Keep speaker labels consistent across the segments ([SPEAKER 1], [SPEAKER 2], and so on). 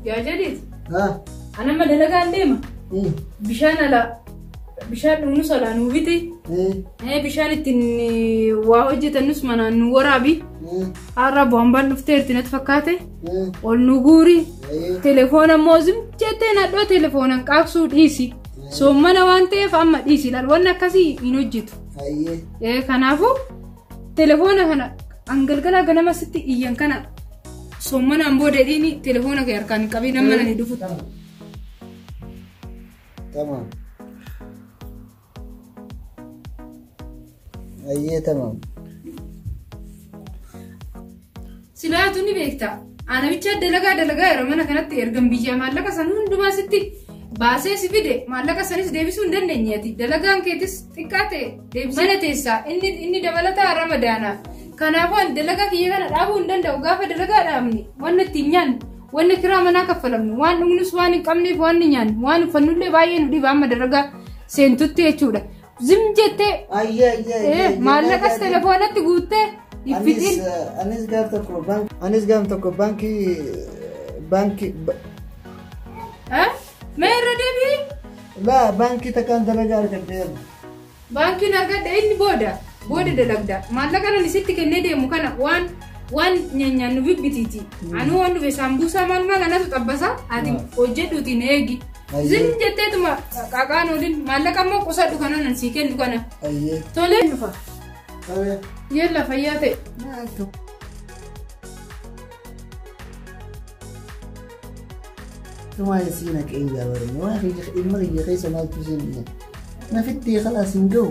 [SPEAKER 1] Yaa jedhiit. Ah, Ana amma dalagaan deema. eh, Bishaan alaa. Bishaan dhugnus alaa nuu biti. eh, Eh, Bishaan ittiin eh, waa hojjetannus manaan nu waraabi. eh, Har'a boombaan dhuftee itti natti fakkaate. eh, Ol nu guuri. eh, Telefoona immoo zim jettee nadhoo telefoonaan qaabsuu dhiisi. Soommana waan ta'eef amma dhiisi. Laal wanni akkasii hin hojjetu. Hayyee. Ee, Kanaafuu telefoona kana an galgala ganama sitti iyyan kana sommanaan booda dhiini telefoona kee harkaan hin qabiin amma nani dhufutti.
[SPEAKER 2] Tamam. Hayyee tamam.
[SPEAKER 1] Silaa atuu ni beekta. Aanamicha dalagaa dalagaa yeroo mana kanatti ergan biyyaa maallaqa san hundumaa sitti baasee si fide maallaqa sanis deebisuu hin dandeenye ati dalagaan keetis xiqqaa ta'e deebisee. Mana teessaa inni inni dabalataa ramadaanaaf. Kanaafuu ani dalagaa kiyya kana dhaabuu hin danda'u gaafa dalagaa dhaabne wanna ittiin nyaannu wanna kiraa manaa kaffalamnu waan dhugnus waan hin qabneef waan ni nyaannu waan uffannullee baay'ee nu dhiba amma dalagaa seentutti jechuudha. Zim jettee Ayyee ayyee eh, ayyee.
[SPEAKER 2] maallaqas
[SPEAKER 1] telefoonatti guuttee hin Anis fixin. eh, anis gaaf tokko
[SPEAKER 2] baank- anis gaaf tokko baankii baankii
[SPEAKER 1] ba- Eh? Mee irra deebi'i. laa baankii
[SPEAKER 2] takkaan dalagaa argadhee Baankiin
[SPEAKER 1] argadhe inni booda booda dalagda. Maallaqa nan isitti kennee deemu kana waan Waan nyaanyaan nu bibbitiiti. Anuu waan dhufe saambuusaa maal maal anatu xabbasa ati Mm. hojjedhuuti na eegi. Ayyee. Zim jetteetuma qaaqaan oolin maallaqa immoo qusadhu kana nan sii kennu kana. Ayyee. Tolee
[SPEAKER 2] dhufa.
[SPEAKER 1] Qabee. Yeella fayyaa ta'e. Maaltu?
[SPEAKER 2] Tumaa isii na qe'in jaabarame. Waa kiyya ilma kiyya keessa maaltu isheen dhiya. Na fittee kalaas hin gahu.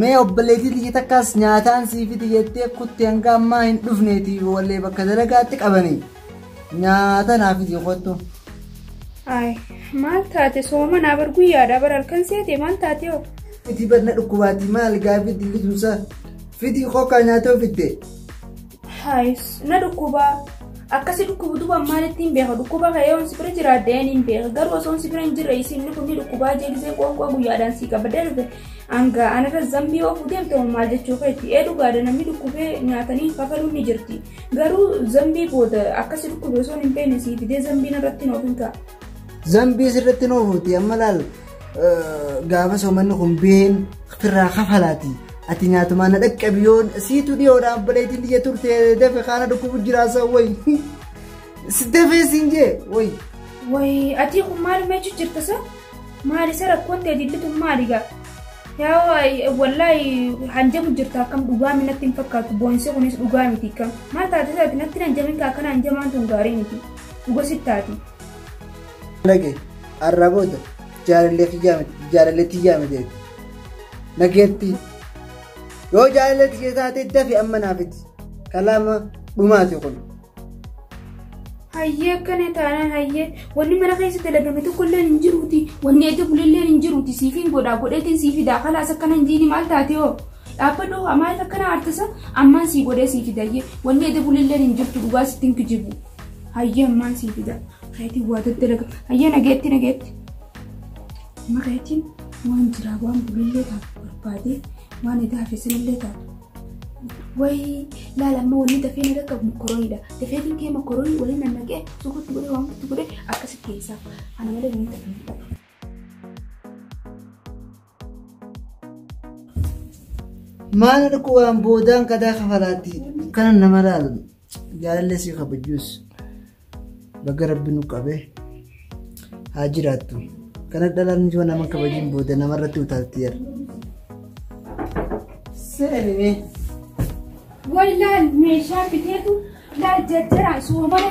[SPEAKER 2] Mee obboleetii tiyya takkaas nyaataan sii fidi jettee kutte hanga ammaa hin dhufneeti wallee bakka dalagaatti qabanii nyaata naa fidi kottu. Ay
[SPEAKER 3] maal taate soomanaa bar guyyaadhaa bar halkan seete maal taate hoo? Fidi bar na
[SPEAKER 2] dhukkubaati maal gaafii dilli tumsaa fidi kokkaa nyaatoo fidde. Haayis
[SPEAKER 3] na dhukkuba. Akkasi dhukkubu duba maalitti hin beeka dhukkuba ka'ee on si bira jiraadde een hin beeka garuu osoo on si bira hin jirre isinni kun ni dhukkubaa jee gisee qoonqoo guyyaadhaan sii qaba darbe hanga anarra zambii oofuu deemte hoo maal jechuu keetti ee dhugaadha namni dhukkubee nyaatanii kafaluun ni jirti garuu zambii booda akkasi dhukkube osoo hin beekne sii fidee zambiin irratti hin oofin ka'a. Zambii
[SPEAKER 2] sirratti hin oofuuti amma laal gaafa soomanni kun been firraa kafalaati. Ati nyaatumaa na dhaqqabi yoon siitu dhiyoodha abbalaytiin biyya turte dafe kaana dhukkubu jiraasa wayi. Si dafee siin jee wayi. Wayi
[SPEAKER 3] atii kun maal meechu jirta sa? Maal isa rakkoon ta'e dillituun maali gaa? Yaa wallaahi hanjamu jirta akkam dhugaa minatti hin fakkaatu boonsi kunis dhugaa miti kam. Maal taate isaati natti hin hanjamin kaa akkana hanjamaan tun gaarii miti. Dhuga sittaati.
[SPEAKER 2] Lage. Har'aa booda jaalallee kiyyaa miti jaalallee tiyyaa miti jetti. Nageetti yoo jaalallee tiyya taate dafi amma naafiti kalaama dhumaati kun. Hayyee
[SPEAKER 3] akkana taanaan hayyee wanni mana keessa dalagame tokko illee hin jiruuti wanni edda bulellee hin jiruuti siifiin godhaa godheetiin sii fidaa kalaas akkana hin jiini maal taate hoo dhaabbadhu haa maaliif akkana aartisa ammaan sii godhee sii fidayyee wanni edda bulellee hin jirtu dhugaa sitti hin kijibu. Hayyee ammaan sii fida. Kayetiin waa daddalaga. Hayyee nageetti nageetti. Amma kayetiin waan jiraa waan bulillee taatu barbaadee waan edaa hafesanillee taatu. Wayii laala amma wanni dafee na dhaqqabu mokorooniidha. Dafee finkee mokoroonii waliin nannaqee sukutti godhee waan guutti godhee akkasi keessaa. Kana malee wanni dafee na dhaqqabu.
[SPEAKER 2] Maal arguu waan boodaan qadaa kafalaatti kana nama laalan jaalallee si kabajuus baga rabbi nu qabee haa jiraattu. Kana dhalaan nuti waan nama kabajuun booda namarratti utaalti jira. Seeramee.
[SPEAKER 3] Wallaal meeshaa biteetu laal jarjaraan soomana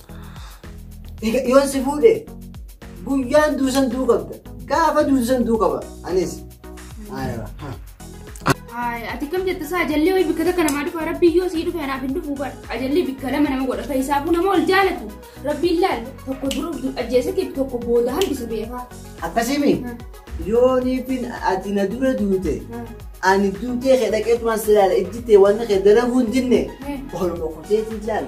[SPEAKER 2] Egaa yoon si fuudhe guyyaan duusan duu qabda. Gaafa duusan duu qaba. Anis. Aayira.
[SPEAKER 3] Ay, ati kam jette isaa ajallee wayii bikka takka namaa dhufa rabbi yoo sii dhufe anaaf hin dhufu bar ajallee bikka lama nama godha fayisaafuu nama ol jaalatu rabbiin laal tokko dura ajjeese kee tokko booda hambisa beekaa. Akkasimi
[SPEAKER 2] yooniifin ati na dura duute ani duutee kee dhaqeetumaan si ilaala ijjitee wanni kee dalaguu hin dinne oluma kuteetiin ilaala.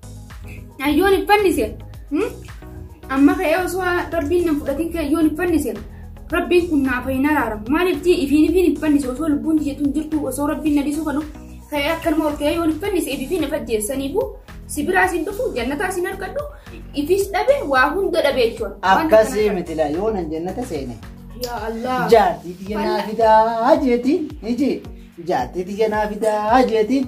[SPEAKER 3] Ayyoon hin fannise. Amma ka'ee osoo rabbiin nan fudhatiin ka'e ayyoon hin fannise. Rabbiin kun naaf hin araaramu. Maaliif jee ifiin ifiin hin fannise osoo lubbuun jettu hin jirtu osoo rabbiin na dhiisuu kanu ka'ee akkanuma ol ka'ee yoo hin fannise ifiin if ajjeessaniifu si biraa sin dhufu jannataa sin argadhu ifis dhabe waa hunda dhabe jechuudha. Akkasii miti laa
[SPEAKER 2] yoo nan jannata seene. Yaa Allah.
[SPEAKER 3] Jaartii tiyya naa
[SPEAKER 2] fidaa jeetiin iji jaartii tiyya naa fidaa jeetiin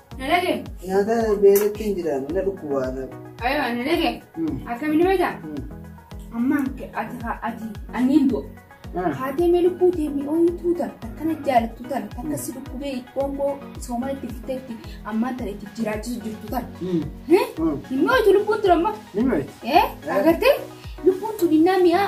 [SPEAKER 3] Nalage. Nyaata
[SPEAKER 2] beelatti hin jiraanne na dhukkubaa na. Ayo nalage.
[SPEAKER 3] Akkamini beekta? Amma ati ati anniin du'a. Haatee mee lubbuu deemee ooyituu tan akkana jaalattu tan akka si dhukkubee qoongoo soomaa itti fiteetti ammaan tan itti jiraachisu jirtu tan. Hin ooyitu lubbuun tura amma. Ni beekti. Agartee lubbuun tun innaa mi'aa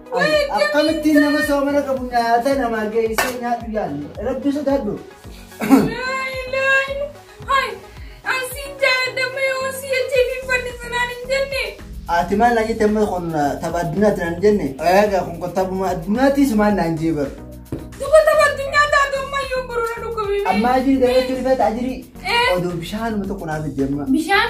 [SPEAKER 3] Akkamittiin
[SPEAKER 2] nama soomana qabu nyaata namaa geessee nyaadhu yaadne rabbi sodaadhu.
[SPEAKER 3] Ati maal naan
[SPEAKER 2] jette amma kun tapha addunyaati naan jenne egaa kun kun taphuma addunyaati sumaan naan jee bar.
[SPEAKER 3] Ammaa jiru dabeetti rifeeta
[SPEAKER 2] ajirii. Oduu bishaanuma tokko naaf itti amma. Bishaan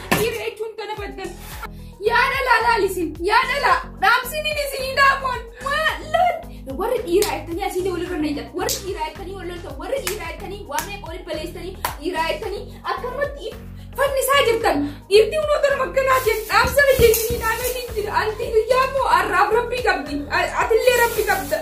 [SPEAKER 3] Dhiira jechuun kana baddan. Yaa dhalaa laalisin, yaa dhalaa dhaamsiin inni isinii dhaamuun maallon. Warri dhiiraa jettanii asii ta'e walirra nayitan, warri dhiiraa jettanii wal loltan, warri dhiiraa jettanii waa meeqa waliin baleessanii, dhiiraa jettanii akkanumatti fannisaa jirtan. Dhiirti hunoo gara makkanaa jedhu dhaamsa biyya isinii dhaamee hin jira. Anti guyyaa immoo har'aaf rabbii qabdi. Atillee rabbi qabda.